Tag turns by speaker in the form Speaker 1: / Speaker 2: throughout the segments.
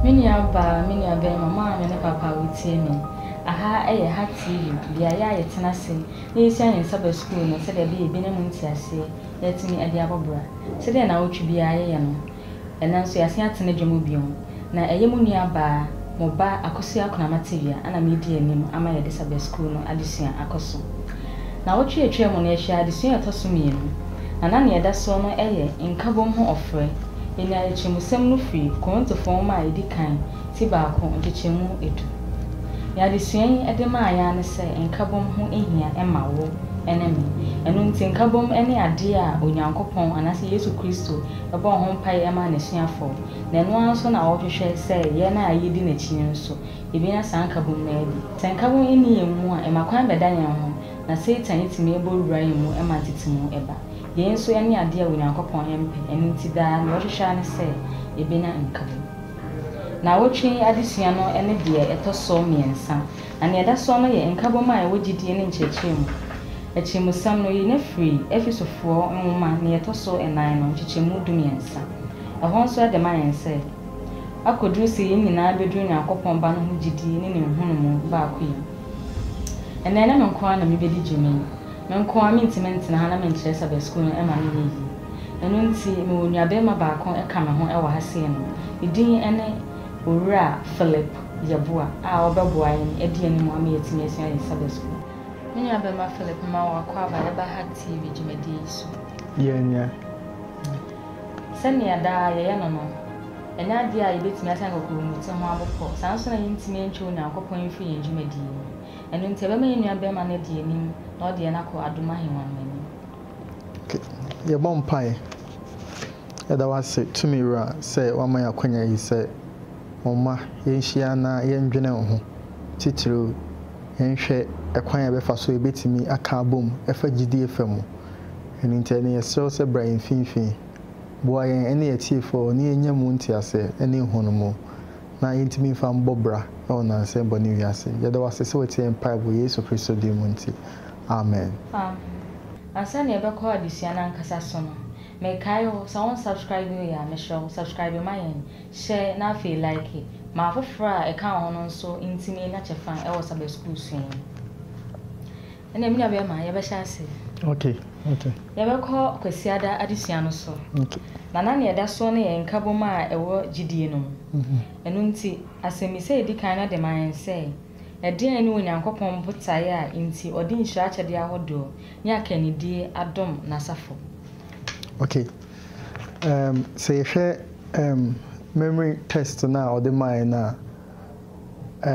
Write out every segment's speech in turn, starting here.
Speaker 1: Me nua baa, me nua bɛɛma, maame ne papa a wotie me, aha yɛ ha TV, beaeɛ a yɛtena ase na yɛsua yɛn nsa ba sukuu no sɛdeɛ ɛbɛyɛ yɛbɛnya mu nteaseɛ na yɛatumi adi abɔ bra, sɛdeɛ nnawɔtwe biara yɛyɛ no. Ɛnnɛ nso yɛasen atena dwa mu bio, na ɛyɛ mo nua baa, mo ba Akosua Kunamatiwia a na meredi anim ama yɛde Sabbath School no adesua akɔ so. Nnawɔtwe a atwaa mu no yɛhwɛɛ adesua a ɛtɔ so mmienu, na na nea ɛda soɔ no yɛ Nkabom ho ɔfrɛ. Yɛnyaa atirimusɛm no firi Korintofoɔ nwoma a ɛdi kan ti baako nkyekyɛmu du. Nea adesua yi de maa yɛn ara ne sɛ Nkabom ho hia ma wo ne me. Ɛno nti Nkabom ne adeɛ a Onyankopɔn anaasɛ Yesu Kristo bɔ ho mpae ma n'asuafo, na ɛno ara nso na ɔhwehwɛ sɛ yɛn a yedi n'akyi no nso, yebenya saa nkabom no adi. Sɛ nkabom nni yɛn mu a, ɛma kwan bɛda yɛn ho, na Satan tumi bɔ wura yɛn mu ma ntetemu ba. Yei nso ne ade a Onyankopɔn mpɛ, ɛno nti daa nea ɔhwehwɛ ara ne sɛ yebenya nkabom. Nnawɔtwe yi adesua no ne deɛ ɛtɔ so mmiɛnsa, na nea ɛda soɔ no yɛ Nkabom a Ɛwɔ Gyidie ne Nkyerɛkyerɛ Mu. Akyirimusɛm no, yenya firii Efesofoɔ nwoma ne ɛtɔ so nnan no nkyekyɛmu dummiɛnsa. Ɛhɔ nso ɛde ma yɛn sɛ, akɔduru sɛ yɛn nyinaa bɛduru Onyankopɔn Ba no ho gyidie ne ne nhunumu baakoyɛ mu. Ɛnnɛ, ɛnyɛ me nko ara na mebɛdi dwuma yi. Me nko ara mentumi ntena ha na menkyerɛ sɛ bɛsukuu no ɛmma no nyɛ yie. Ɛno nti, mewɔ nuabarima baako ɛka me ho ɛwɔ ha sei no, ne din ɛne Owura Philip Yeboah a ɔbɛboa yɛn adi anim ama yɛatumi asua yɛn sabɛsukuu. Me nuabarima Philip mma wo akwaaba a ɛba Hack TV dwumadie yi so. Yɛanya. Sɛnea daa yɛyɛ no no, ɛnyɛ adeɛ a yɛbɛtumi aka nkokuromoti ho abo pɔ, saa ara nso na yɛntumi ntwe Onyankopɔn mfiri yɛn dwumadie mu. Ɛno nti, yɛbɛma yɛn nuabarima no adi anim na ɔde yɛn akɔ adom ahennwa no anim.
Speaker 2: Yɛbɔ mpaeɛ. Yɛda wo ase, Tumi Wura, sɛ woama yɛn akwanya yi sɛ Momma yenhyia na yɛndwene ho, titiriw yɛnhwɛ kwan a yɛbɛfa so a yebetumi aka abom fa gyidie fa mu. Ɛno nti, ɛnde yɛsrɛ wo sɛ bra yɛn mfimfini. Boa yɛn ne yɛn atiefo a wɔn ani anya mu nteaseɛ ne nhunumu na yentumi mfa mmɔ bra wɔ nnansa yi bɔne wiase yi. Yɛda wo ase sɛ woatie yɛn mpaebɔ wɔ Yesu Kristo din mu nti, amen. Amen.
Speaker 1: Ansa na yɛbɛkɔ adesua no ankasa so no, mekae wo, sɛ wonsubscribee yɛ a, mesrɛ wo, subscribe ma yɛn. Hyɛ na afei like. Ma afoforɔ a ɛka wo ho no nso ntumi anya kyɛfa wɔ Sabbath School sua yi mu. Ɛnna me nuabɛrima, yɛbɛhyɛ ase. Okay, okay.
Speaker 2: Yɛbɛkɔ
Speaker 1: Kwasiada adesua no so. Okay. Na na nea
Speaker 2: ɛda soɔ
Speaker 1: no yɛ nkabom a ɛwɔ gyidie no mu. Ɛno nti, asɛmmisa a ɛdi kan no de ma yɛn sɛ, Ɛdeɛn ne Onyankopɔn botaeɛ a enti ɔde nhyira akyɛdeɛ ahodoɔ ne akannidie adom N'asafo? Okay.
Speaker 2: um sɛ yɛhwɛ um memory test no a ɔde maa yɛn no a,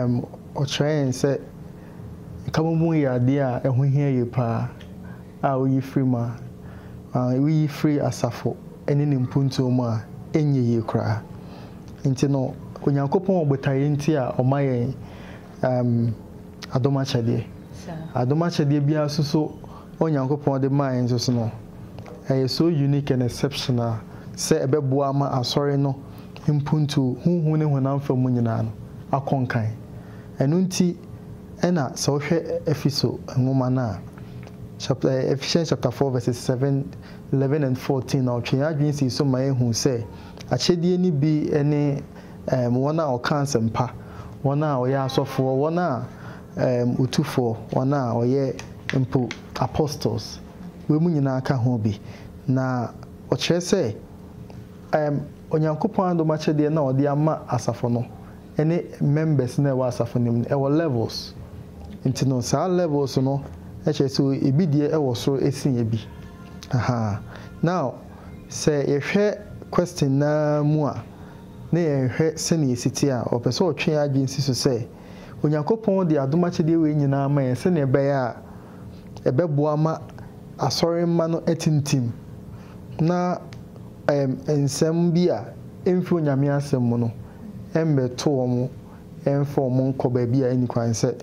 Speaker 2: um ɔkyerɛ yɛn sɛ nkamomu yɛ adeɛ a ɛho hia yie paa a woyi firi mu a, uh, woyi firi asafo ne ne mpuntuo mu a, ɛnyɛ yie koraa. Nti no, Onyankopɔn wɔ botaeɛ nti a ɔma yɛn um, adom akyɛdeɛ. Adom akyɛdeɛ biara nso so Onyankopɔn de mae nso so no, ɛyɛ so unique and exceptional sɛ ɛbɛboa ama Asɔre no mpuntuo, honhom ne honam fam mu nyinaa no, akɔ nkan. Ɛno nti na sɛ wohwɛ Efeso nwoma no a, chap. Ephesians chapter four verses seven, eleven and fourteen a ɔtwe yɛn adwene sii so ma yɛhu sɛ akyɛdeɛ no bi ne wɔn a wɔka asɛmpa, wɔn a wɔyɛ asɔfoɔ, wɔn a Erm Utufoɔ, wɔn a wɔyɛ mpo Apostles, weinom nyinaa ka ho bi. Na wɔkyerɛ sɛ erm Onyankopɔn adom akyɛdeɛ no a ɔde ama asafo no ne members no a ɛwɔ asafo no mu no, ɛwɔ levels. Nti no saa levels no kyerɛ sɛ ebi deɛ wɔ soro ɛsen ebi. Ahaa. Now, sɛ yɛhwɛ question no ara mu a, na yɛnhwɛ sɛdeɛ ɛsi teɛ a, ɔpɛ sɛ ɔtwe yɛn adwene si so sɛ, Onyankopɔn de adom akyɛdeɛ wei nyinaa ma yɛn sɛdeɛ ɛbɛyɛ a ɛbɛboa ma Asɔre mma no atintim na ɛɛm nsɛm bi a ɛmfiri Onyame asɛm mu no ɛmmɛto wɔn ɛmfa wɔn nnkɔ baabi a ɛnni kwan sɛ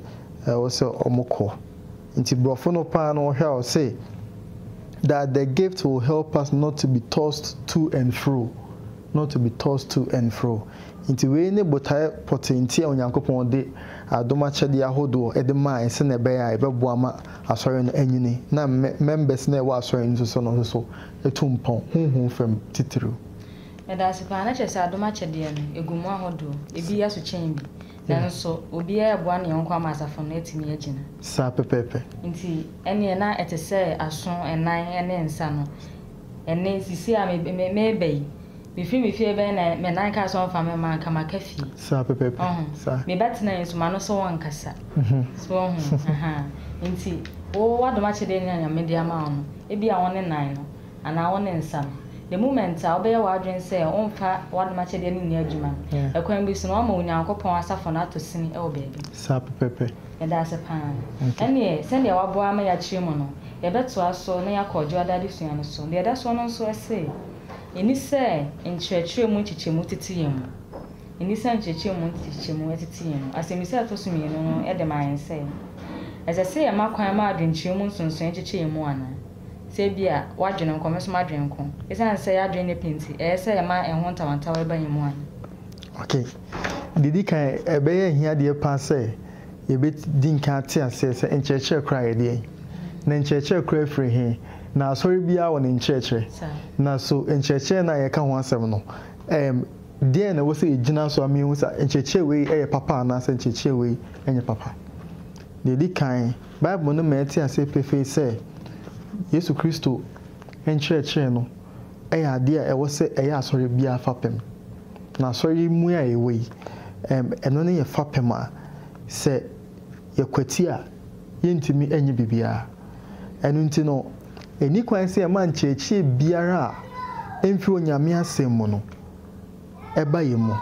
Speaker 2: ɛwɔ sɛ wɔn kɔ. Nti brɔfo no paa no ɔhwɛ a ɔse that the gift will help us not to be tossed to and fro. not to be tossed to and fro. Enti wei ne botae pɔtee nti a Onyankopɔn de adom akyɛdeɛ ahodoɔ de mae sɛnea ɛbɛyɛ a ɛbɛboa ma Asɔre no anyini na mmɛ members no a ɛwɔ Asɔre no so no nso atu mpɔn, honhom fam titiriw. Yɛda
Speaker 1: ase paa. Na kyerɛ sɛ adom akyɛdeɛ no, ɛgu mu ahodoɔ. Ebi yɛ so kyɛn bi. Nanso obiara reboa ne yɔnko ama asafo no atumi agyina. Saa pɛpɛɛpɛ.
Speaker 2: Enti ɛnneɛ
Speaker 1: na ɛte sɛ aso, nan, ne nsa no. Ɛnnɛ, sisi a mereba yi, mefiri me fie bɛn na me nan kaa so amfa me mma anka maka fie. Saa pɛpɛɛpɛ. Wahu?
Speaker 2: Saa. Me ba tena
Speaker 1: yi nso, m'ano so wɔnkasa. So wahu? Ahaa. Enti, wo, w'adom akyɛdeɛ no a Nyame de ama wo no, ebia wo ne nan no, anaa wo ne nsa no, the moment a wobɛyɛ w'adwene sɛ womfa w'adom akyɛdeɛ no nni adwuma no, ɛkwan bi so no, woama Onyankopɔn asafo no atɔ sini wɔ baabi. Saa pɛpɛɛpɛ.
Speaker 2: Meda ase pa ara.
Speaker 1: Ɛnneɛ, sɛdeɛ waboa ama yɛakyerɛ mu no, Yɛbɛtoa so na yɛakɔ Ɔdwoa Da adesua no so. Deɛ ɛda soɔ no nso, ɛse yɛnni sɛ nkyerɛkyerɛ mu nkyekyɛmu tete yɛn mu. Yɛnni sɛ nkyerɛkyerɛ mu nkyekyɛmu tete yɛn mu. Asɛmmisa a ɛtɔ so mmienu no de ma yɛn sɛ, Ɛsɛ sɛ yɛma kwan ma adwenkyerɛ mu nsonsonoeɛ nkyekyɛ yɛn mu anaa? Sɛ ebia w'adwene nko, me nso m'adwene nko, ɛsiane sɛ yɛn adwene nyɛ pɛ nti, ɛyɛ sɛ yɛma ɛho ntawantawa ba yɛn mu anaa? Okay.
Speaker 2: Deɛ ɛdi kan, ɛbɛyɛ ahiadeɛ pa sɛ. Yebedi nkan ate aseɛ sɛ nkyerɛkyerɛ koraa yɛ deɛn? Na nkyerɛkyerɛ koraa firi he? Na asɔre biaa wɔ ne nkyerɛkyerɛ. Na so nkyerɛkyerɛ no a yɛka ho asɛm no, ɛɛm, deɛn na ɛwɔ sɛ yɛgyina so ama yɛahu sɛ nkyerɛkyerɛ wei yɛ papa anaasɛ nkyerɛkyerɛ wei nyɛ papa? Deɛ ɛdi kan, Bible no ma yɛte aseɛ pefee sɛ Yesu Kristo nkyerɛkyerɛ no yɛ adeɛ a ɛwɔ sɛ ɛyɛ asɔre biara fapem. Na asɔre yi mu a yɛwɔ yi, ɛno ne yɛn fapem a sɛ yɛkwati a yɛntumi nyɛ biribiara. Ɛno nti no, ɛnni kwan sɛ yɛma nkyerɛkyerɛ biara a ɛmfiri Onyame Asɛm mu no ba yɛn mu.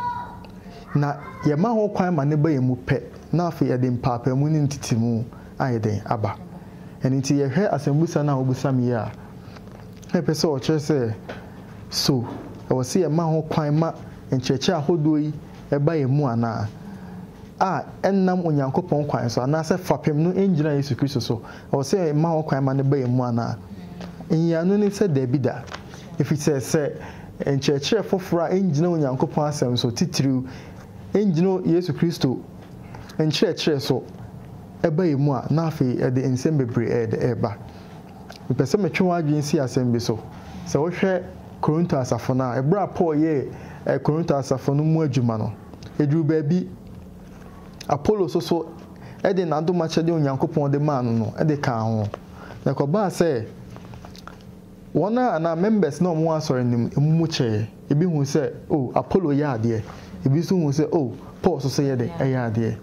Speaker 2: Na yɛma ho kwan ma no ba yɛn mu pɛ na afei yɛde mpaapaemu ne ntetemu ayɛ dɛn? aba. Ɛno nti yɛhwɛ asɛmmisa no a wobisa me yi a, na ɛpɛ sɛ ɔkyerɛ sɛ, So ɛwɔ sɛ yɛma ho kwan ma nkyerɛkyerɛ ahodoɔ yi ba yɛn mu anaa? a ɛnnam Onyankopɔn kwan so, anaasɛ fapem no ngyina Yesu Kristo so, ɛwɔ sɛ yɛma ho kwan ma no ba yɛn mu anaa? Nyiyianu ne sɛ, Dabi da. Ɛfiri sɛ, sɛ nkyerɛkyerɛ foforɔ a ɛngyina Onyankopɔn Asɛm so, titiriw, ɛngyina Yesu Kristo nkyerɛkyerɛ so ba yɛn mu a, na afei ɛde nsɛm bebree reba. Mepɛ sɛ metwe w'adwene si asɛm bi so. Sɛ wohwɛ Korinto asafo no a, bere a Paul yɛɛ Korinto asafo no mu adwuma no, eduu baabi Apolo so so de n'adomakyɛde a Onyankopɔn de maa no no de kaa ho. Na ɛkɔbaa sɛ wɔn a anaa members no a wɔwɔ asɔre no mu no mu kyɛe. Ebi hui sɛ, oh, Apolo yɛ adeɛ. Ebi nso hui sɛ, oh, Paul nso so yɛ dɛn? Yɛ adeɛ.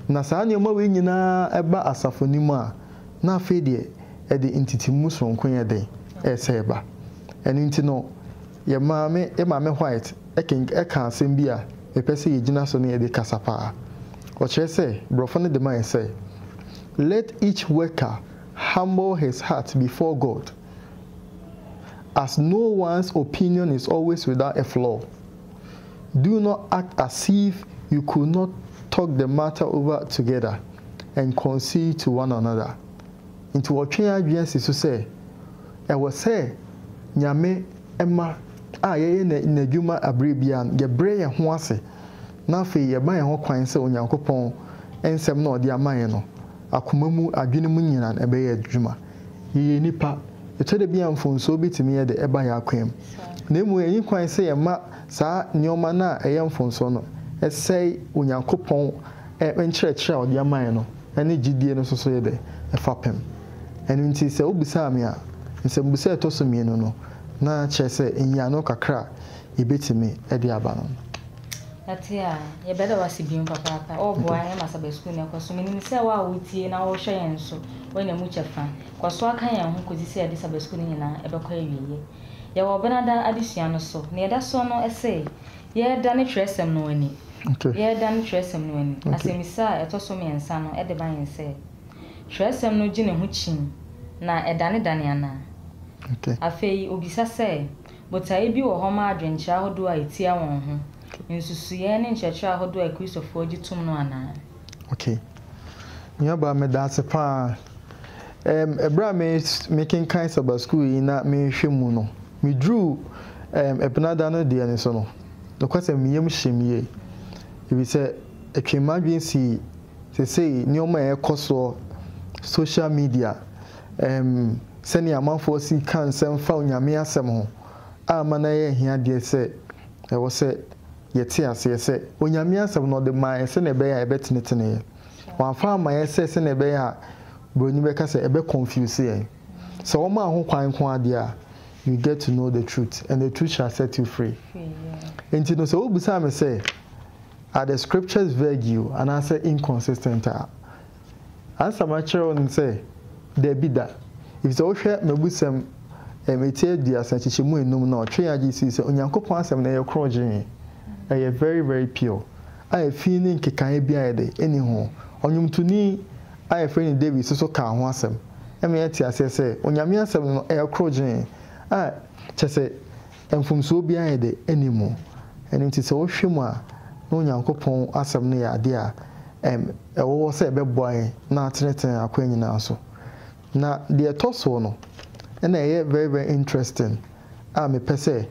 Speaker 2: Na saa nneɛma wei nyinaa ba asafo no mu a, na afei deɛ ɛde ntetemu soronko yɛ den resɛe ba. Ɛno nti no, yɛn maame, yɛn Maame White kenk, kaa asɛm bi a mepɛ sɛ yɛgyina so ne ɛbi kasa pa ara. Ɔkyerɛ sɛ, Borɔfo no de mae sɛ, Let each worker humble his heart before God, as no one's opinion is always without a flaw. Do not act as if you could not talk the matter over together and concede to one another. Nti wɔtwe yɛn adwene si so sɛ, ɛwɔ sɛ Nyame mma a yɛyɛ N'adwuma aberɛ biara no, yɛbrɛ yɛn ho ase na afei yɛma yɛn ho kwan sɛ Onyankopɔn nsɛm no a Ɔde ama yɛn no, akoma mu, adwene mu nyinaa ɛbɛyɛ adwuma. Yɛyɛ nnipa. Ɛtɔ da bi a mfomsoɔ bɛtumi yɛdɛ ɛba yɛn akwan mu. Na mmom yɛnyi kwan sɛ yɛma. saa nneɛma no a ɛyɛ mfomsoɔ no sɛe Onyankopɔn nkyerɛkyerɛ a ɔde ama yɛn no ne gyedie no nso so yɛ dɛ? Fapem. Ɛno nti sɛ wobisaa me a, nsɛmbusa a ɛtɔ so mmienu no, na kyerɛ sɛ nyiano kakra a yɛbɛtumi de aba no no. Yɛte a,
Speaker 1: yɛbɛda wo ase bio papaapa. Woboa yɛn ma Sabbath School no ɛkɔ so. Menim sɛ wo a wotie na wohwɛ yɛn nso, woanya mu kyɛfa. Kɔ so aka yɛn ho kɔsi sɛ yɛde Sabbath School no nyinaa ɛbɛkɔ awieɛ. Yɛwɔ Ɔbɛnada adesua no so. Nea ɛda soɔ no, ɛse, Yɛredane twerɛsɛm no ani. Yɛredane twerɛsɛm no ani. Asɛmmisa a ɛtɔ so mmiɛnsa no de ba yɛn sɛ, Twerɛsɛm no gye ne ho kyim na ɛdanedane anaa? Afei ɔbisa sɛ, Botaeɛ bi wɔ hɔ ma adwenkyerɛ ahodoɔ a ɛtia wɔn ho nsusuiɛ ne nkyerɛkyerɛ ahodoɔ a Akristofoɔ gye tom no anaa?
Speaker 2: Nuabaa, medaase paa. Ɛɛm, ɛberɛ a me, mekenkan Saba Sukuu yi na mehwɛ mu no, meduruu ɛɛm Ɛbenada no deɛ no so no, nokwasɛm me yam hyem yie, efisɛ ɛtwee m'adwene sii seesei nneɛma a ɛrekɔ soɔ, social media, ɛɛm sɛnea amanfoɔ si ka nsɛm fa Onyame asɛm ho, a ama no ayɛ ahiadeɛ sɛ ɛwɔ sɛ. Yɛte aseɛ sɛ, Onyame Asɛm no ɔde maeɛ sɛdeɛ ɛbɛyɛ a ɛbɛteneteneɛ. Wamfa ammaeɛ sɛ sɛdeɛ ɛbɛyɛ a broni bɛka sɛ ɛbɛ confuse yɛn. Sɛ womaa ho kwan nko ara deɛ a, you get to know the truth and the truth shall set you free. Enti no sɛ wobisaa me sɛ, Are the scriptures vague you anaasɛ inconsistent a, Asɛm akyerɛ wo ne sɛ, Dabi da. Efisɛ wohwɛ m'abusɛm, ɛm, ti aduasa, nkyekyɛmu enum no a, ɔtwee adwene sii sɛ Onyankopɔn Asɛm no yɛ korɔgyee, ɛyɛ very, very pure, a efi ne nkekaeɛ biara de, enni ho. Ɔnwomtoni a yɛfrɛ no David nso so kaa ho asɛm. Ɛma yɛte aseɛ sɛ Onyame Asɛm no yɛ korɔgyee, a, kyerɛ sɛ, Mfomsoɔ biara de nni mu. Ɛno nti sɛ wohwɛ mu a, na Onyankopɔn asɛm no yɛ adeɛ a ɛm, ɛwɔ hɔ sɛ ɛbɛboa yɛn na atenetene yɛn akwan nyinaa so. Na deɛ ɛtɔ soɔ no, ɛna ɛyɛ very very interesting a mepɛ sɛ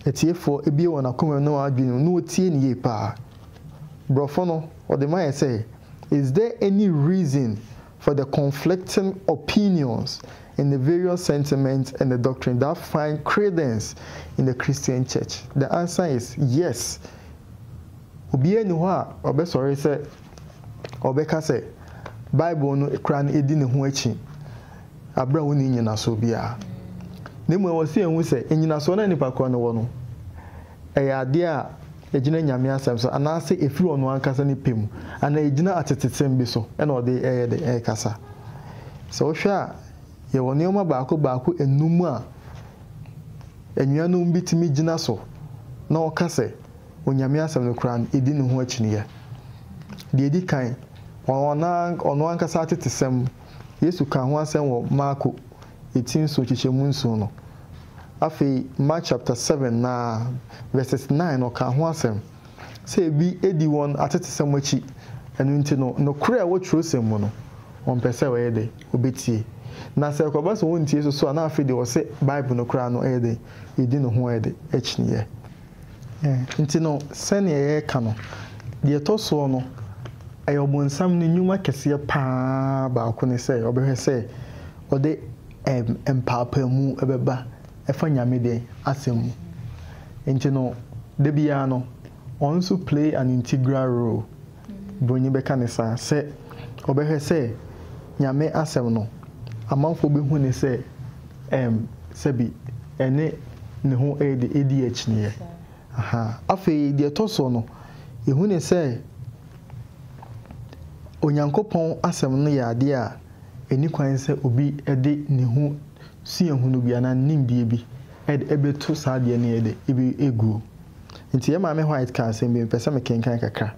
Speaker 2: atiefoɔ bue wɔn akoma mu ne wɔn adwene mu na wɔtie no yie paa. Borɔfo no, wɔde ma yɛ sɛ, Is there any reason for the conflicting opinions and the various sentiments and the doctrines that find credence in the Christian Church? The answer is yes. Obiara nni hɔ a ɔbɛsɔre sɛ ɔbɛka sɛ Bible no koraa no edi ne ho akyi bere a wonni nnyinasoɔ biara. Na mmom ɛwɔ sɛ yɛhu sɛ nnyinasoɔ no a nnipa korɔ no wɔ no, ɛyɛ adeɛ a Egyina Nyame asɛm so anaasɛ efiri ɔno ankasa ne pɛ mu anaa egyina atetesɛm bi so na ɔde ɛyɛ dɛ ɛkasa. Sɛ wohwɛ a yɛwɔ nnoɔma baako baako enum a anuanom bi tumi gyina so na ɔka sɛ Onyame asɛm no koraa no edi ne ho akyinnyɛ. Deɛ edi kan, ɔno ankasa atetesɛm, Yesu kaa ho asɛm wɔ Marko. etsi nsu nkyekyɛmu nson no. Afei Mark chapter seven na verses nine no ɔkaa ho asɛm sɛ ebi edi wɔn atetesɛm akyi, ɛno nti no nokorɛ a ɛwɔ twerɛsɛm mu no wɔmpɛ sɛ wɔyɛ dɛ wɔbɛtie. Na sɛ ɛkɔba sɛ wɔntie so so a na afei deɛ wɔse Bible no koraa no ɛyɛ dɛ yɛdi ne ho ɛde akyiniiɛ. Nti no, sɛdeɛ yɛreka no, deɛ ɛtɔ soɔ no, ɛyɛ ɔbonsam no nnwuma kɛseɛ pa ara baako ne sɛ ɔbɛhwɛ sɛ ɔde mpaapaamu bɛba fa Nyame dɛ asɛm mu. Nti no, da biara no, ɔno nso play an integral role. Bronyi bɛka no saa, sɛ ɔbɛhwɛ sɛ Nyame asɛm no, amanfoɔ bɛhu no sɛ ɛm sɛbi ɛne ne ho ɛɛdi akyiniiɛ. Ahaa. Afei deɛ ɛtɔ soɔ no, yɛhu no sɛ Onyankopɔn asɛm no yɛ adeɛ a ɛnni kwan sɛ obi de ne ho suahunu bi anaa ne nimdeɛ bi de bɛtu saa adeɛ no yɛ dɛ? Ɛguo. Enti yɛn Maame White kaa asɛm bi a mepɛ sɛ mekenkan kakra.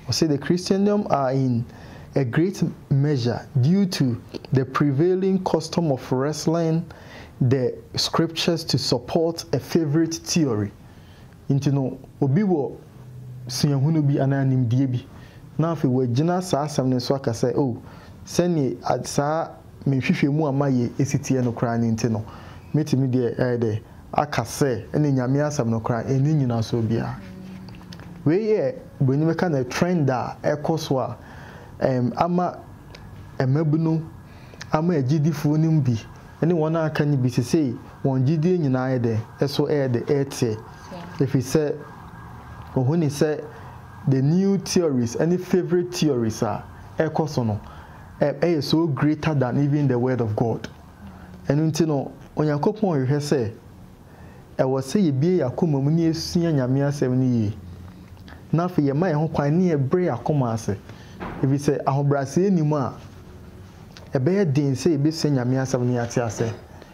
Speaker 2: Ɔse, The Christendom are in a great measure due to the prevailing custom of wrestling the scriptures to support a favorite theory. Enti no, obi wɔ suahunu bi anaa nimdeɛ bi na afei wagyina saa asɛm no so aka sɛ, oh, sɛdeɛ saa me nhwehwɛmu a mayɛ esi teɛ no koraa no nti no, mɛtumi deɛ ayɛ dɛ aka sɛ ɛne Nyame asɛm no koraa nni nyinasoɔ biara. Wei yɛ broni bɛka no trend a ɛkɔ so a ɛɛm ama mmabunu, ama agyidifoɔ no mu bi ne wɔn a aka no bi sesei wɔn gyidie nyinaa ayɛ dɛ ɛso ɛyɛ dɛ ɛɛteɛ ɛfiri sɛ wɔhuni sɛ the new theories ɛne favourite theories a ɛkɔ so no ɛ ɛyɛ so greater than even the word of God. Ɛno nti no, Onyankopɔn hwehwɛ sɛ ɛwɔ sɛ yɛbue yɛn akoma mu na yɛsua Nyame Asɛm no yie, na afei yɛma yɛn ho kwan na yɛbrɛ yɛn akoma ase, ɛfiri sɛ ahobrɛaseɛ nni mu a, ɛbɛyɛ den sɛ yɛbɛsua Nyame Asɛm na yɛate aseɛ.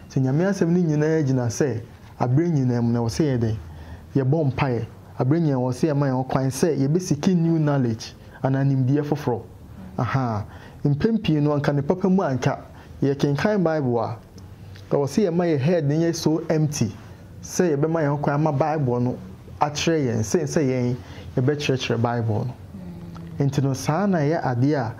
Speaker 2: Sɛ Nyame Asɛm no nyina ara gyina sɛ aberɛ nyina mu no, ɛwɔ sɛ yɛyɛ dɛn? Yɛbɔ mpaeɛ. Aberɛ nyina mu no, ɛwɔ sɛ yɛma yɛn ho kwan sɛ yɛbɛsiki new knowledge anaa nimdeɛ foforɔ. Ahaa. Mpɛn pii no, anka ne papa mu anka. Yɛkenkan Bible a, ɛwɔ sɛ yɛma yɛn head no yɛ so empty sɛ yɛbɛma yɛn ho kwan ama Bible no akyerɛ yɛn sen sɛ yɛn yɛbɛkyerɛkyerɛ Bible no. Enti no, saa na ɛyɛ adeɛ a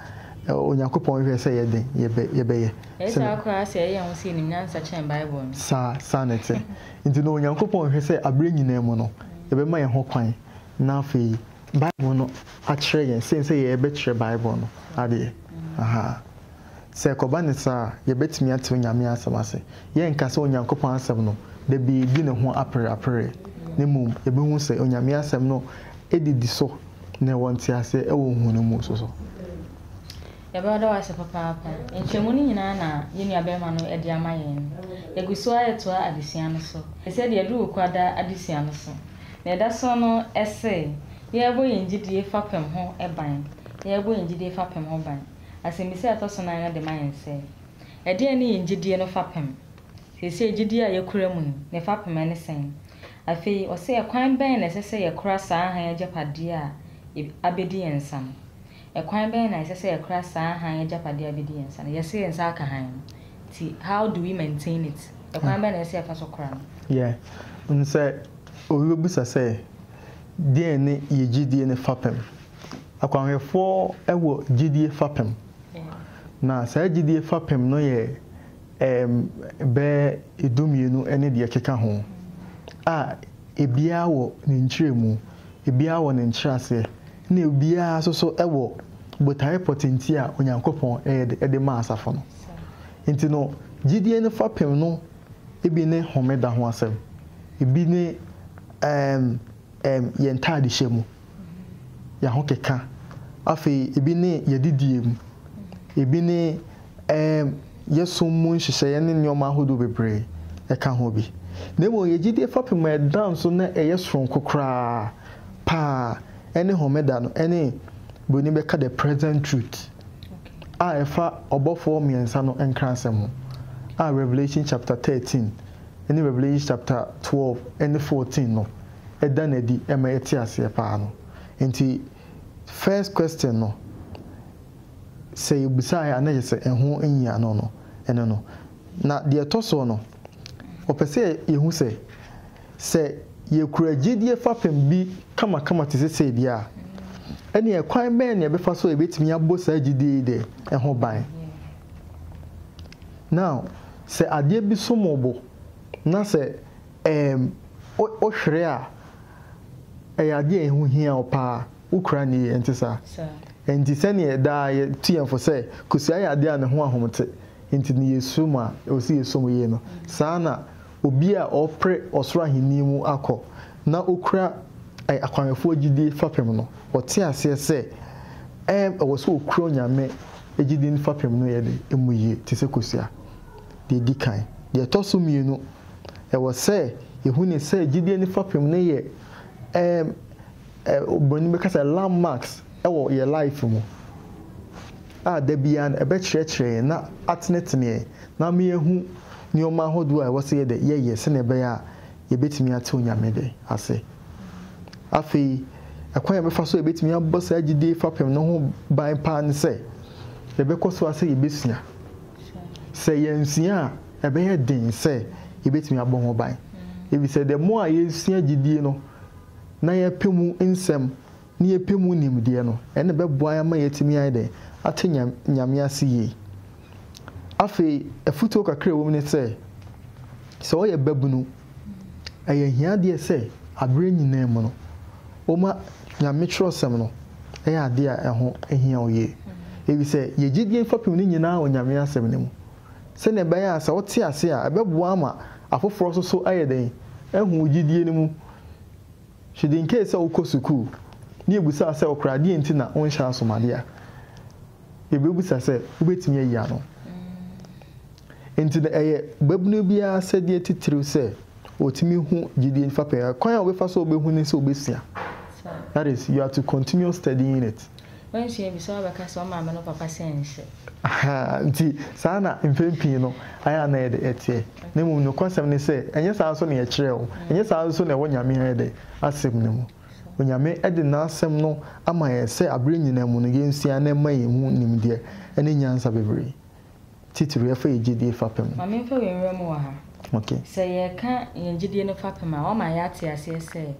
Speaker 2: Onyankopɔn hwɛ sɛ ɛyɛ den yɛbɛyɛ. Ɛyɛ saa koraa
Speaker 1: sɛ ɛyɛ ho sɛ yɛnim nyansa kyɛn Bible no. Saa, saa na ɛte.
Speaker 2: Enti no, Onyankopɔn hwɛ sɛ berɛ nyinaa mu no, yɛbɛma yɛn ho kwan na afei Bible no akyerɛ yɛn sen sɛ yɛbɛkyerɛ Bible no adeɛ. Ahaa. Sɛ ɛkɔba no saa a, yɛbɛtumi ate Onyame asɛm ase. Yɛrenka sɛ Onyankopɔn asɛm no, da bi yɛdi ne ho apereapereɛ, na mmom yɛbɛhu sɛ Onyame asɛm no didi so na ɛwɔ nteaseɛ wɔ hu no mu nso so.
Speaker 1: Yɛbɛda wo ase papaapa. Nkyɛmu no nyinaa na yɛn nuabarima no de ama yɛn. Yɛgu so ara retoa adesua no so. Ɛsɛ deɛ ɛdu wo kwada adesua no so. Nea ɛda so no, ɛse, Yɛrebɔ yɛn gyidie fapem ho ban. Yɛrebɔ yɛn gyidie fapem ho ban. Asɛmmisa a ɛtɔ so nan no de ma yɛn sɛ, Ɛdeɛn ne yɛn gyidie no fapem? Seesei gyidie a yɛkura mu yi, ne fapem ne sɛn? Afei, ɔse, Ɛkwan bɛn na ɛsɛ sɛ yɛkora saa hann agyapadeɛ a abɛdi yɛn nsa no? Ɛkwan bɛn na ɛsɛ sɛ yɛkora saa hann agyapadeɛ a ɛbɛdi yɛn nsa no? Yɛse yɛn nsa aka hann no, nti how do we maintain it? Ɛkwan bɛn na ɛsɛ sɛ yɛfa so kora no? Yeah,
Speaker 2: wonim sɛ obi bɛbisa sɛ, Deɛn ne yɛn gyedie no fapem? Akwanhwɛfoɔ wɔ gyedie fapem, na saa gyedie fapem no yɛ ɛɛm bɛyɛ du mmienu ne deɛ ɛkeka ho a ɛbiara wɔ ne nkyerɛmu Ebiara wɔ ne nkyerɛaseɛ, ɛna ebiara nso so wɔ botaeɛ pɔtente a Onyankopɔn ɛyɛ de maa asafo no. Nti no, gyidie no fapem no bi ne homeda ho asɛm, ebi ne ɛɛm ɛɛm yɛn ntaadehyɛ mu, yɛn ahokeka, afei ebi ne yɛn adidie mu, ebi ne. Ɛɛm, yɛ som mu nhyehyɛeɛ ne nneɛma ahodoɔ bebree ka ho bi. Na mmom yɛ gyedie fapem a ɛda nso na ɛyɛ soronko koraa pa ara ne Homeda no ne Buroni bɛka The Present Truth a ɛfa ɔbɔfoɔ mmiɛnsa no nkrasɛm ho a Revelation chapter thirteen ne Revelation chapter twelve ne fourteen no da no adi ma yɛte aseɛ pa ara no. Nti first question no, sɛ yɛbisaeɛ a na kyerɛ sɛ ɛho nhia no no, ɛno no. Na deɛ ɛtɔ soɔ no, wɔpɛ sɛ yɛhu sɛ, sɛ yɛkura gyedie fapem bi kamakama te sɛ sei deɛ a, ɛnneɛ ɛkwan bɛn na yɛbɛfa so a yɛbɛtumi abɔ saa gyedie yi dɛ, ɛho ban? Now, sɛ adeɛ bi som wo bo na sɛ ɛɛm, wo, wohwere a, ɛyɛ adeɛ a ɛho hia wo paa. Wo koraa ni, ɛnte saa? Enti sɛnea daa yɛtu yɛn fo sɛ kosua yɛ ade a ne ho ahom te, enti no yeso mu a ɛwɔ sɛ yeso mu yie no, saa ara na obi a ɔrepere ɔsoro Ahenni mu akɔ na okura akwammɛfoɔ gyidie fapem no, ɔte aseɛ sɛ ɛwɔ sɛ ɔkura Onyame gyidie no fapem no yɛ dɛ mu yie te sɛ kosua. Deɛ ɛdi kan, deɛ ɛtɔ so mmienu, ɛwɔ sɛ yɛhu ne sɛ gyidie no fapem no yɛ Oburoni bɛka sɛ landmarks wɔ yɛn life mu a da biara no ɛbɛkyerɛkyerɛ yɛn na atenetene yɛn na ama yɛahu nneɛma ahodoɔ a ɛwɔ sɛ yɛdɛ yɛyɛ sɛdeɛ ɛbɛyɛ a yɛbɛtumi ate Onyame dɛ ase. Afei ɛkwan a yɛbɛfa so a yɛbɛtumi abɔ saa gyidie fapem no ho ban paa ne sɛ yɛbɛkɔ so ara sɛ yɛbɛsua. Sɛ yɛansua a ɛbɛyɛ den sɛ yɛbɛtumi abɔ ho ban. Ɛfiri sɛ the more a yɛsua gyidie no, na yɛpɛ mu nsɛm na yɛpɛ mu nimdeɛ no, ɛnna ɛbɛboa yɛn ama yɛatumi ayɛ dɛn? Ate Nyame ase yie. Afei, afotuo kakra a ɛwom ne sɛ, sɛ woyɛ babunu, ɛyɛ ahiadeɛ sɛ aberɛ nyinaa mu no, woma Nyame twerɛsɛm no yɛ adeɛ a ɛho hia wo yie, ɛfiri sɛ yɛgye die fapem no nyinaa wɔ Nyame asɛm no mu. sɛnea ɛbɛyɛ a sɛ wote ase a, ɛbɛboa ama afoforo nso so ayɛ dɛn? Ahu wo gyidie no mu hwedenkee sɛ wokɔ sukuu ne yɛbisaa sɛ wokora adeɛ nti na wonhyɛ asomadeɛ a, yɛbɛbisa sɛ wobɛtumi ayi ano. Enti na ɛyɛ babunu biara asɛdeɛ titiriw sɛ ɔtumi hu gyidie fapɛɛ. Kwan a wobɛfa so a wobɛhu ne sɛ wobɛsua. That is, you are to continue studying it. Wansua bi sɛ
Speaker 1: ɔbɛka sɛ ɔmaame no papa sɛ nhyɛ. Ahaa, nti
Speaker 2: saa na mpɛn pii no ayɛ a na ɛyɛ dɛ ɛteɛ. Na mmom nokwasɛm ne sɛ, ɛnyɛ saa nso na yɛkyerɛɛ wo, ɛnyɛ saa nso na ɛwɔ Nyame ayɛ dɛ, Asɛm no mu. Onyame de N'Asɛm no ama yɛn sɛ aberɛ nyinaa mu no yɛnsua na ɛmma yɛnhu nimdeɛ ne nyansa bebree. Titiriw, yɛfa yɛn gyedie fapem. Ma memfa wei nwura mu wɔ
Speaker 1: ha. Ok. Sɛ yɛreka yɛn gyedie no fapem a, woama yɛate aseɛ sɛ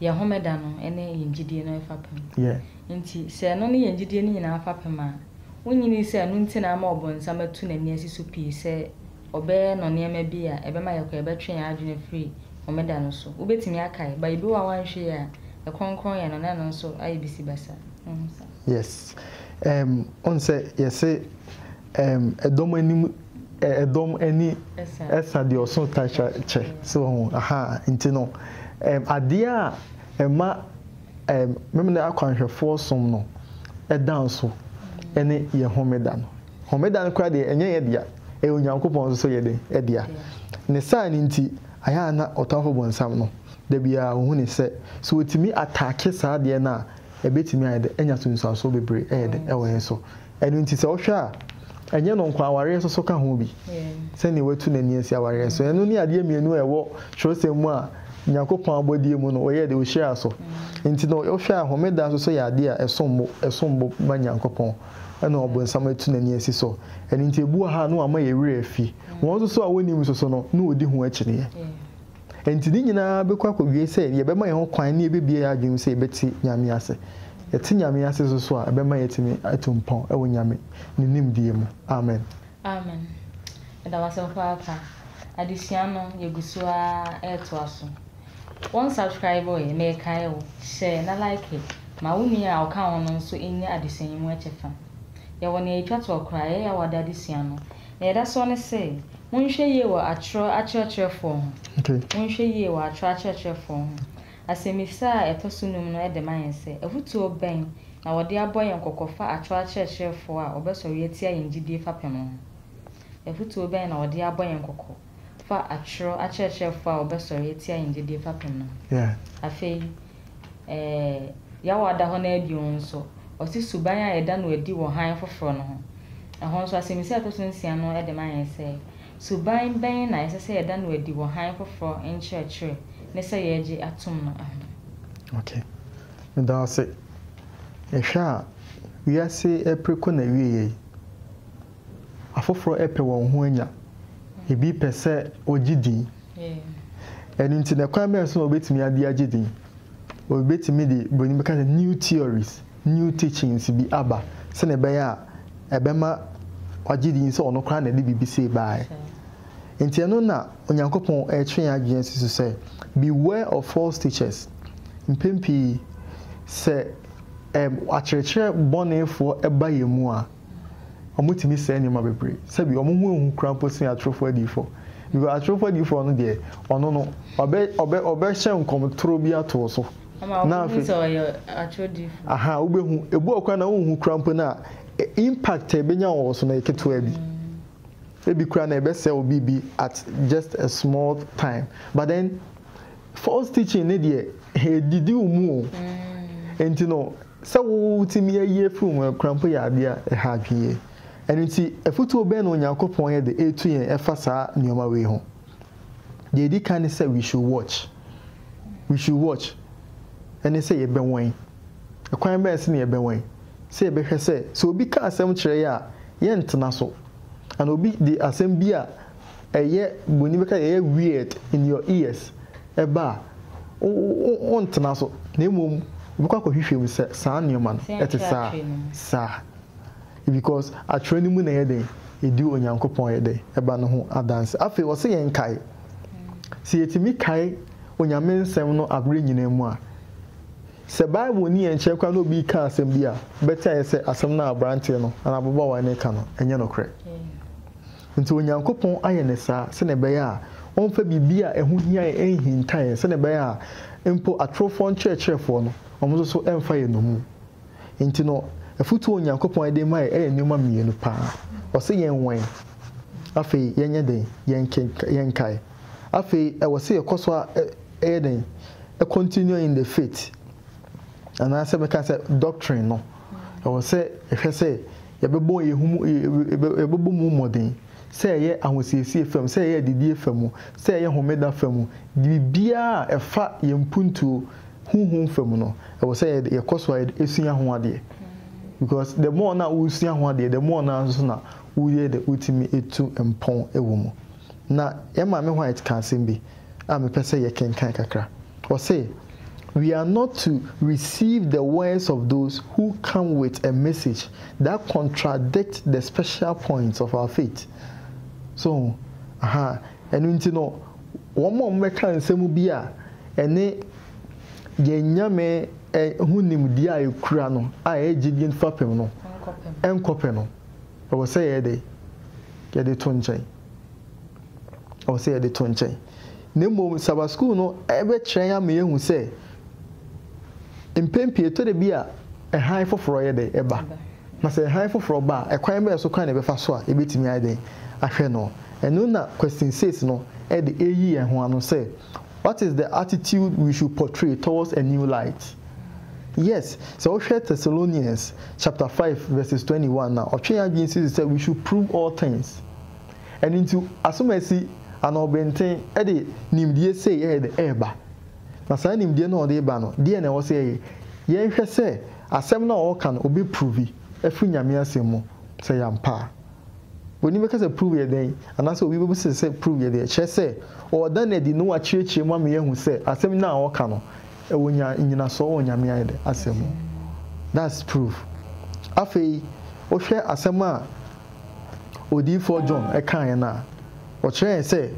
Speaker 1: yɛn Homeda no ne yɛn gyedie no fapem. Yɛ. Enti,
Speaker 2: sɛ ɛno
Speaker 1: ne yɛn gyedie no nyinaa fapem a, wonnyinii sɛ ɛno nti na ama ɔbonsam atu n'ani asi so pii sɛ ɔbɛyɛ no nneɛma bi a ɛbɛma yɛkɔ yɛbɛtwe yɛn adwene afiri Homeda no so. Wobɛtumi akae, bae bi wɔ hɔ a woanhwɛ yie a, ɛkronkron yɛ no na ɛno nso ayɛ bisibasa. Wohu saa? Yes
Speaker 2: ɛɛm wohu sɛ yɛse ɛɛm ɛdɔm anim ɛ ɛdɔm ani ɛsa deɛ ɔso ta twa kyɛ so wahu ahaa nti no ɛɛm adeɛ a ɛma ɛɛm Memeneda akwanhwɛfoɔ som no ɛda nso ɛne yɛn homeda no homeda no koraa deɛ ɛnyɛ yɛn dea ɛyɛ Onyankopɔn nso yɛ dɛn ɛdea ne saa no nti ayɛ a na ɔtamfo bonsam no dabiara ohune sɛ sɛ otumi ataake saa adeɛ no a ebetumi ayɛ dɛ anya sunsuanso bebree ɛyɛ dɛ ɛwɔ yɛn so. Ɛno nti sɛ wohwɛ a, ɛnyɛ ɛno nko ara, awareɛ nso so ka ho bi, sɛdeɛ watu n'ani asi awareɛ so. Ɛno ne adeɛ mmienu a ɛwɔ twerɛsɛm mu a Nyankopɔn abɔdeɛ mu no ɔyɛɛ dɛ ɔhyiraa so. Nti no wohwɛ a homeda nso so yɛ adeɛ a ɛsom bo, ɛsom bo ma Nyankopɔn ɛna ɔbonsam atu n'ani asi so. Ɛno nti ebi wɔ ha a na wɔama yɛn werɛ afi. Wɔn nso so a wɔnnim nso so no na wɔdi ho akyineɛ. Enti ne nyinaa bɛkɔ akɔwie sɛ yɛbɛma yɛn ho kwan ne yɛbɛbue yɛn adwene mu sɛ yɛbɛte Nyame ase. Yɛte Nyame ase so so a, ɛbɛma yɛatumi atu mpɔn wɔ Nyame Ne nimdeɛ mu. Amen. Amen.
Speaker 1: Yɛda wo ase papaapa. Adesua no, yɛgu so ara retoa so. Wo nsubscribe ɛ, merekae wo, hyɛ na like ma wo nua a ɔka ho no nso nnya adesua yi mu kyɛfa. Yɛwɔ nea ɛtwa toɔ koraa a, ɛyɛ a wɔada adesua no. Nea ɛda soɔ ne se, monhwɛ yie wɔ atorɔ akyerɛkyerɛfoɔ ho. Monhwɛ yie wɔ atorɔ akyerɛkyerɛfoɔ ho. Asɛmmisa a ɛtɔ so nnum no de ma yɛn sɛ, afutuo bɛn na wɔde abɔ yɛn kɔkɔ fa atorɔ akyerɛkyerɛfoɔ a wɔbɛsɔre atia yɛn gyidie fapem ho? Afutuo bɛn na wɔde abɔ yɛn kɔkɔ? fa atwerɛ akyerɛkyerɛfoɔ a wɔbɛsɔre atia yɛn gyedie fapem no ho. Afei, eh, yaw a ada hɔ no ara bio nso, ɔse suban a yɛda no adi wɔ hann foforɔ no ho. Ɛhɔ nso, asɛmmisa a ɛtɔ so nsia no de ma yɛn sɛ, Suban bɛn na ɛsɛ sɛ yɛda no adi wɔ hann foforɔ nkyerɛkyerɛ ne sɛ yɛregye atom no ho? Ok.
Speaker 2: Meda wo ase. Yɛhwɛ a, wiase apiriko na ɛwieeɛ yi. Afoforo pɛ wɔn ho anya. Ebi pɛ sɛ ogye din. Ɛno nti, no kwan bɛn so na obetumi de agye din? Obetumi de buroni bɛka sɛ new theories, new teachings bi aba sɛnea ɛbɛyɛ a ɛbɛma wagye din sɛ ɔno koraa na ɛde biribi sei bae. Enti ɛno na Onyankopɔn retwe yɛn adwene asi so sɛ, Beware of false teachers. Mpɛn pii, sɛ akyerɛkyerɛ bɔnefoɔ ba yɛn mu a, wɔtumi sɛe nneɛma bebree. Sɛbi wɔn ho ehu koraa mpo sen atorofo adiyifo. Because atorofo adiyifo no deɛ, ɔno no, ɔbɛ, ɔbɛ, ɔbɛhyɛ nkɔm toro bi ato wo so. Ama Na wɔbɛhu afei, sɛ ɔyɛ atoro
Speaker 1: diyifo. aha, wobɛhu.
Speaker 2: Ebu ɔkora na wonhu koraa mpo no a, ɛ- impact a ebenya wɔ wo so no yɛ ketewa bi. Ebi koraa na ɛbɛsɛe wo biribi at just a small time. But then, false teaching ne deɛ, edidi wo mu o. Enti no, Sɛ wotumi ayi afi wo mu akuranpo yɛ ade a ɛha adwene yie. Ɛno nti, afotuo bɛn na Onyankopɔn de retu yɛn ɛfa saa nneɛma wei ho? Deɛ ɛdi kan ne sɛ we should watch. We should watch. Ɛne sɛ yɛbɛwɛn. Ɛkwan bɛn so na yɛbɛwɛn? Sɛ yɛbɛhwɛ sɛ, sɛ obi ka asɛm kyerɛ yɛ a, yɛntena so. Anaa obi de asɛm bi a. ɛyɛ bɔni bɛka yɛyɛ weird in your ears ɛba a, wontena so na mmom wobɛkɔ akɔhwehwɛ mu sɛ saa nneɛma no ɛte saa saa because atwerɛ no mu na ɛyɛ dɛn ɛdi Onyankopɔn yɛ dɛn ɛba no ho adanse. Afei ɔse yɛn kae sɛ yɛtumi kae Onyame nsɛm no aberɛ nyinaa mu a sɛ Bible nni yɛn nkyɛn koraa na obi reka asɛm bi a bɛte ayɛ sɛ asɛm no a abranteɛ no anaa ababaawa no reka no ɛnyɛ nokorɛ. Enti Onyankopɔn ayɛ no saa sɛnea ɛbɛyɛ a ɔmfa biribi a ɛho hia yɛn nhinta yɛn sɛnea ɛbɛyɛ a mpo atorofoɔ nkyerɛkyerɛfoɔ no, wɔn nso so remfa yɛn nnommum. Enti no, afotuo a Onyankopɔn de ma yɛn yɛ nneɛma mmienu pa ara. Ɔse yɛnwɛn. Afei yɛnyɛ dɛn? Yɛnkenka, yɛnkae. Afei ɛwɔ sɛ yɛkɔ so ara yɛ dɛn? Continue in the faith. Anaasɛ mɛka sɛ doctrine no, ɛwɔ sɛ yɛhwɛ sɛ Yɛbɛbɔ yɛn ho mu, yɛbɛbɔ mu mmɔden, sɛ ɛyɛ ahosiesie fam, sɛ ɛyɛ adidie fa mu, sɛ ɛyɛ homeda fa mu, biribiara a ɛfa yɛn mpuntuo, honhom fa mu no, ɛwɔ sɛ yɛkɔ so ara sua ho adeɛ. Because the more no a woresua ho adeɛ, the more no ara nso na woyɛ dɛ, wotumi tu mpɔn wɔ mu. Na yɛn Maame White ka asɛm bi a mepɛ sɛ yɛkenkan kakra. Ɔse, We are not to receive the words of those who come with a message that contradict the special points of our faith. So ho? Aha. Ɛno nti no, wɔn a wɔbɛka nsɛm bi a ɛne yɛn Nyame ho nimdeɛ a ɛkura no a ɛyɛ gyedie fapem no nkɔpɛ no. Ɛwɔ sɛ yɛyɛ dɛn? Yɛde to nkyɛn. Ɛwɔ sɛ yɛde to nkyɛn. Na mmom Sabbath School no bɛkyerɛ yɛn ama yɛahu sɛ, mpɛn pii ɛtɔ da bi a hann foforɔ yɛ dɛn? Ɛba. Na sɛ hann foforɔ ba a, ɛkwan bɛn so koraa na yɛbɛfa so a yɛbɛtumi ayɛ dɛn? Ahwɛ no? Ɛno na Question Six no de reyi yɛn ho ano sɛ, What is the attitude we should portray towards a new light? Yes, sɛ wohwɛ Thessalonians chapter five verses twenty one a, ɔtwe yɛn adwene si so sɛ we should prove all things. Ɛno nti, asomasi anaa ɔbɛnten de nimdeɛ sei yɛ dɛ reba. Na saa nimdeɛ no a ɔde reba no, deɛn na ɛwɔ sɛ yɛyɛ? Yɛnhwɛ sɛ asɛm no a ɔreka no, ɔbɛprovi afiri Nyame Asɛm mu sɛ ɛyɛ ampa a. W'ani bɛka sɛ Prue yɛ dɛn? Anaasɛ obi bebisa sɛ Prue yɛ dɛn? Kyerɛ sɛ, ɔreda no adi na wakyerɛkyerɛ mu ama yɛahu sɛ asɛm no a ɔreka no, ɛwɔ nya nnyinasoɔ wɔ Nyame ayɛ dɛn? Asɛm mu. That's Prue. Afei, wohwɛ asɛm a Odiyifoɔ John kaeɛ no a, ɔkyerɛɛ yɛn sɛ,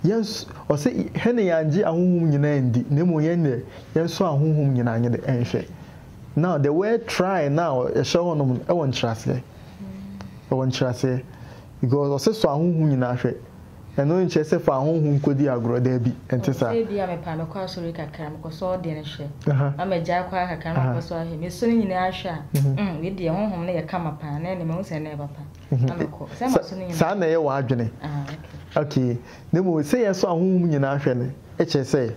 Speaker 2: yɛn nso, ɔse, hɛne yɛangye ahonhom nyinaa ndi, na mmom yɛn deɛ, yɛnsɔ ahonhom nyinaa nyɛ dɛ nhwɛ. Now the word try no a ɛhyɛ hɔ nom no ɛwɔ nkyerɛaseɛ. Ɛwɔ nkyerɛaseɛ. Because ɔse sɔ ahonhom nyinaa hwɛ. Ɛno nkyerɛ sɛ fa ahonhom kɔdi agorɔ, daabi, ɛnte saa. Sɛ ebia mepɛ a mɛkɔ
Speaker 1: asɔre kakra, mekɔsɔ ɔdeɛ no hwɛ, na magyae kɔ ara kakra na makɔsɔ ahwɛ. Mesɔ ne nyinaa hwɛ a, mm, wei deɛ honhom no yɛ kama paa, na ɛnne mahu sɛ ɛnne ɛba pa, na mekɔ. Sɛ masɔ ne nyinaa. Saa na ɛyɛ w'adwene.
Speaker 2: Ah, okay. Okay. Na mmom sɛ yɛsɔ ahonhom nyinaa hwɛ no kyerɛ sɛ.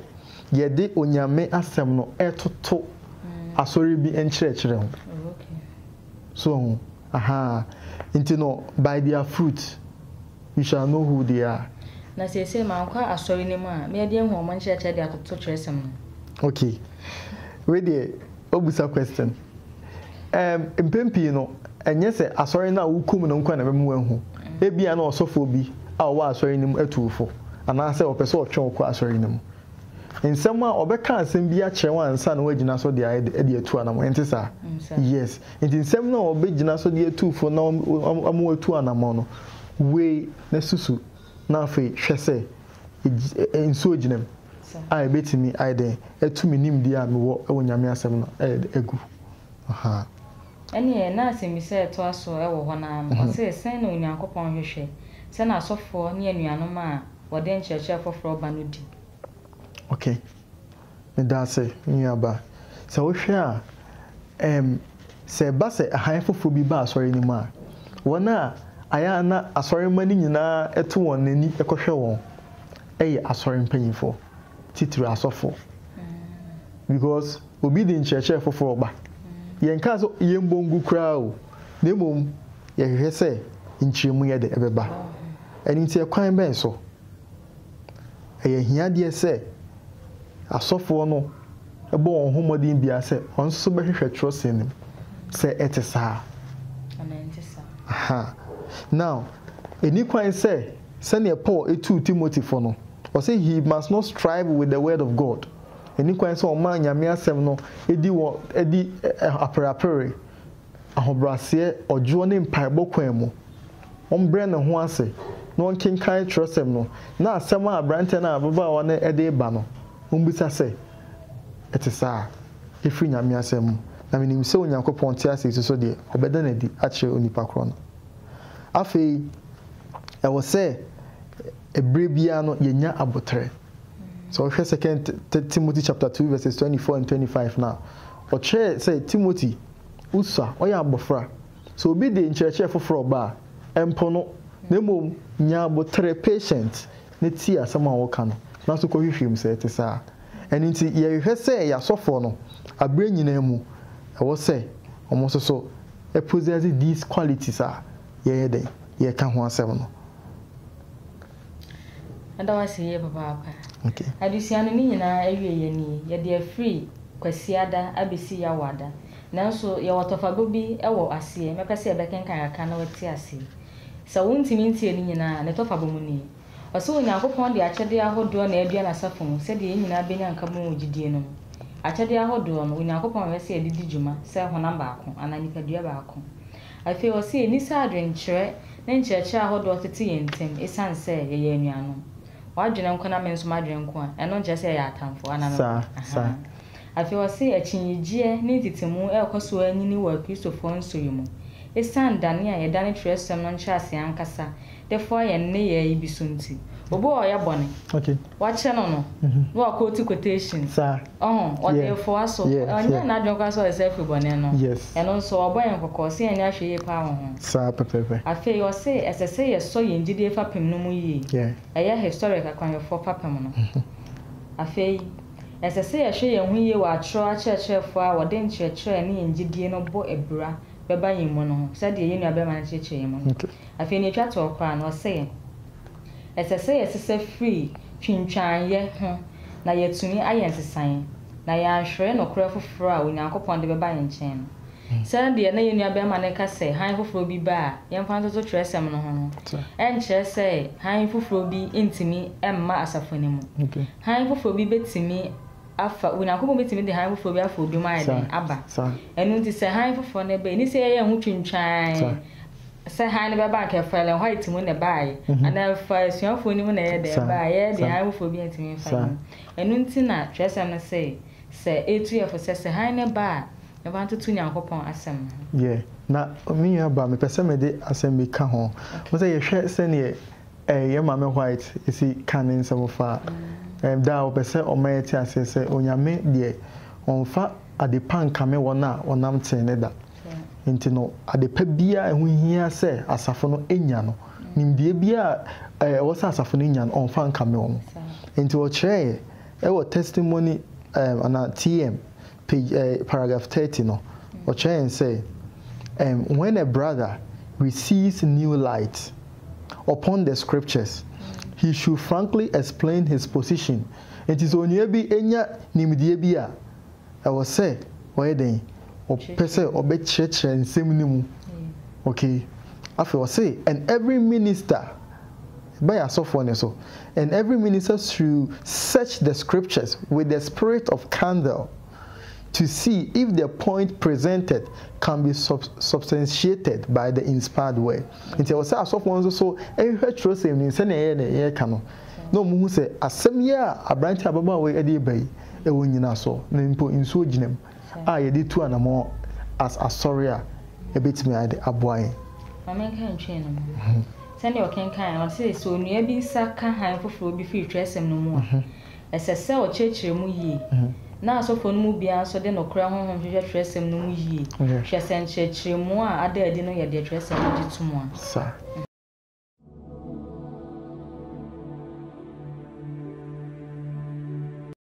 Speaker 2: yɛde Onyame asɛm no toto asɔre bi nkyerɛkyerɛ ho. So hu? Ahaa. Nti no, by their fruit you shall know who they are. Na seesei
Speaker 1: mankɔ asɔre no mu a, mɛde ahu wɔn nkyerɛkyerɛ de atoto twerɛsɛm no. Okay.
Speaker 2: Wei deɛ. Wabisa question. Ɛɛm, mpɛn pii no, ɛnyɛ sɛ asɔre no a wokɔ mu no nko na ɛbɛma woahu. Ebia na ɔsɔfoɔ bi a ɔwɔ asɔre no mu atu wo fo, anaasɛ ɔpɛ sɛ ɔtwe wo kɔ asɔre no mu. Nsɛm a, ɔbɛka asɛm bi akyerɛ wo ansa na woagyina so de ayɛ dɛ de atu anamɔn, ɛnte saa? Yes. Enti nsɛm no a ɔbɛgyina so de atu wo fo na wama woatu anamɔn no, wei na susu na afei hwɛ sɛ eg nsuo gyina mu a ɛbɛtumi ayɛ dɛn atu me nimdeɛ a mewɔ wɔ Nyame asɛm no ayɛ dɛn agu ahaa.
Speaker 1: Ɛneɛ na asɛmmisa a ɛtoa so wɔ hɔ no ara no, ɔse, sɛn na Onyankopɔn hwehwɛ sɛ n'asɔfoɔ ne anuanom a wɔde nkyerɛkyerɛ foforɔ ba no di? Ok.
Speaker 2: Medase, me nua ba. Sɛ wohwɛ a, ɛɛm, sɛ ɛba sɛ hann foforɔ bi ba asɔre no mu a, wɔn a ayɛ a na asɔremma no nyinaa to wɔn ani kɔhwɛ wɔn yɛ asɔre mpanimfoɔ, titiriw asɔfoɔ. Because obi de nkyerɛkyerɛ foforɔ ba. Yɛnkaa sɛ yɛmmɔ ngu koraa o, na mmom yɛhwehwɛ sɛ nkyerɛmu yɛ dɛ, ɛbɛba. Ɛno nti, ɛkwan bɛn so? Ɛyɛ ahiadeɛ sɛ asɔfoɔ no bɔ wɔn ho mmɔden biara sɛ wɔn nso bɛhwehwɛ twerɛsɛm no mu sɛ ɛte saa anaa ɛnte saa. Aha. Now, ɛni kwan sɛ sɛdeɛ Paul tuu Timothy fo no, ɔse he must not strive with the word of God. Ɛni kwan sɛ ɔma Nyame asɛm no di wɔ di apereapere ahobrɛaseɛ, ɔdwoɔ ne mpaebɔ kwan mu. Ɔmbrɛ ne ho ase na ɔnkenkan twerɛsɛm no na asɛm a aberanteɛ no a ababaawa no de reba no, ɔmbisa sɛ, Ɛte saa? Ɛfiri Nyame asɛm mu? Na menim sɛ Onyankopɔn te ase nso so deɛ, ɔbɛda no adi akyerɛ onipa korɔ no. Afei, ɛwɔ sɛ ɛberɛ biara no yɛnya aboterɛ. Sɛ wohwɛ Second Timothy chapter two verses twenty four and twenty five no a, ɔkyerɛɛ sɛ Timothy, Usa, ɔyɛ abofra. Sɛ obi de nkyerɛkyerɛ foforo ba a, mpo no, na mmom nya abotere, patient, na tie asɛm a wɔka no, na so kɔhwehwɛ mu sɛ ɛte saa. Ɛno nti, yɛhwehwɛ sɛ yɛn asɔfoɔ no, aberɛ nyinaa mu, ɛwɔ sɛ wɔn nso so possess these qualities a yɛyɛ dɛn? Yɛreka ho asɛm no.
Speaker 1: Meda wo ase yie papaapa. Adesua
Speaker 2: no ne nyinaa
Speaker 1: awieeɛ nie, yɛde afiri Kwasiada abɛsi Yawoada. Nanso yɛwɔ tɔfabɔ bi wɔ aseɛ, mɛpɛ sɛ yɛbɛkenkan kakra na woate aseɛ. Sɛ wontumi ntiee ne nyinaa a, ne tɔfabɔ mu nie. Ɔse Onyankopɔn de akyɛdeɛ ahodoɔ na adua n'asafo mu sɛdeɛ yɛn nyinaa bɛnya nkabom wɔ gyidie no mu. Akyɛdeɛ ahodoɔ no, Onyankopɔn hwehwɛ sɛ yɛde di dwuma sɛ honam baako anaa nipadua baako. Afei ɔse yɛnni saa adwenkyerɛ ne nkyerɛkyerɛ ahodoɔ tete yɛn ntam esiane sɛ yɛyɛ anuanom. W'adwene nko na me nso m'adwene nko a, ɛno nkyerɛ sɛ yɛyɛ atamfoɔ, anaa me boa? Ahaa. Afei ɔse akyinnyegyeɛ ne ntetemu rekɔ so ara nyini wɔ Akristofoɔ nso yi mu, esiane dane a yɛdane twerɛsɛm no nkyerɛaseɛ ankasa de foa yɛn nneyɛe bi so nti. Obi wɔ hɔ a ɔyɛ bɔne, wɔakyɛ
Speaker 2: no no,
Speaker 1: na wakootu quotations, ɔho,
Speaker 2: ɔde refoa
Speaker 1: so. Ɔnyɛɛ n'adwene koraa sɛ ɔde sɛ afi bɔne no. Ɛno nso, wɔabɔ
Speaker 2: yɛn kɔkɔ
Speaker 1: sɛ yɛnyɛ ahwɛyie paa wɔ ho.
Speaker 2: Afei ɔse ɛsɛ
Speaker 1: sɛ yɛsɔ yɛn gyidie fapem no mu yie. Ɛyɛ historic akwanhwɛfoɔ fapem no. Afei, ɛsɛ sɛ yɛhwɛ yɛn ho yie wɔ atorɔ akyerɛkyerɛfoɔ a wɔde nkyerɛkyerɛ ne yɛn gyidie no bɔ abira bɛba yɛn mu no ho, sɛdeɛ yɛn nuabarima no kyerɛkyerɛɛ yɛn mu no. Afei nea ɛtwa toɔ koraa no, ɔse yɛn, Ɛsɛ sɛ yɛsesa firi twintwaanyɛ ho na yɛatumi ayɛ nsesaeɛ, na yɛanhwere nokorɛ foforɔ a Onyankopɔn de bɛba yɛn nkyɛn no. Sɛdeɛ na yɛn nuabarima no reka sɛ hann foforɔ bi ba a yɛmfa ntoto twerɛsɛm no ho no, ɛnkyerɛ sɛ hann foforɔ bi ntumi mma asafo no mu. Hann foforɔ bi bɛtumi. afa. Onyankopɔn betumi de hann foforo bi afa obi mu ayɛ dɛn? Aba. Ɛno nti, sɛ hann foforo no ba, enni sɛ yɛyɛ yɛn ho twintwan sɛ hann no bɛba, anka ɛfaa Ellen White mu na ɛbae, anaa ɛfaa asuafo no mu na ɛyɛɛ dɛn bae. Yɛn de, hann foforo biara ntumi mfa yɛn mu. Ɛno nti na Kyerɛwsɛm no se, Sɛ etu yɛ fo sɛ, sɛ hann no ba a, ɛba ntoto Onyankopɔn asɛm no ho. Yɛ. Na
Speaker 2: me nua ba, mepɛ sɛ mede asɛm bi ka ho. Wohu sɛ, yɛhwɛ sɛnea Ɛɛ, yɛn Maame White si ka ne nsɛm fa ɛɛ da a ɔpɛ sɛ ɔma yɛte aseɛ sɛ Onyame deɛ ɔmfa ade pa nkame wɔn a wɔnam tee ne da nti no, ade pa biara a ɛho hia sɛ asafo no nya no, nimdeɛ biara a ɛwɔ sɛ asafo no nya no, ɔmfa nkame wɔn. Nti ɔkyerɛɛeɛ wɔ Testimony ɛɛ anaa TM page eh, paragraph thirty no, ɔkyerɛ yɛn sɛ um, when a brother receives new light upon the scriptures, he should frankly explain his position. Nti sɛ onua bi nya nimdeɛ bi a, ɛwɔ sɛ ɔyɛ dɛn? Ɔpɛ sɛ ɔbɛkyerɛkyerɛ nsɛm no mu. Okay. Afei ɔse, and every minister Ɛba yɛn asɔfoɔ no so. And every minister should search the scriptures with the spirit of candle to see if the point presented can be sub substantiated by the inspired word. Nti ɛwɔ sɛ asɔfoɔ no nso so hwehwɛ twerɛsɛm no mu sɛdeɛ ɛyɛ na yɛreka no na wɔhu sɛ asɛm yi a aberanteɛ ababaawa yi de reba yi, ɛwɔ nnyinasoɔ, na mpo nsuo gyina mu. a yɛde tu anamɔn as Asɔre a ɛbɛtumi ayɛ de aboa yɛn? Ma menka
Speaker 1: ntwee no mu. Sɛdeɛ ɔkenkan no, ɔse, Sɛ onua bi nsa ka hann foforɔ bi firi twerɛsɛm no mu a, ɛsɛ sɛ ɔkyerɛkyerɛ mu yie, na asɔfoɔ no mu biara nso de nokorɛ honhom hwehwɛ twerɛsɛm no mu yie, hwɛ sɛ nkyerɛkyerɛmu a ada adi no yɛ deɛ twerɛsɛm no gye tom a.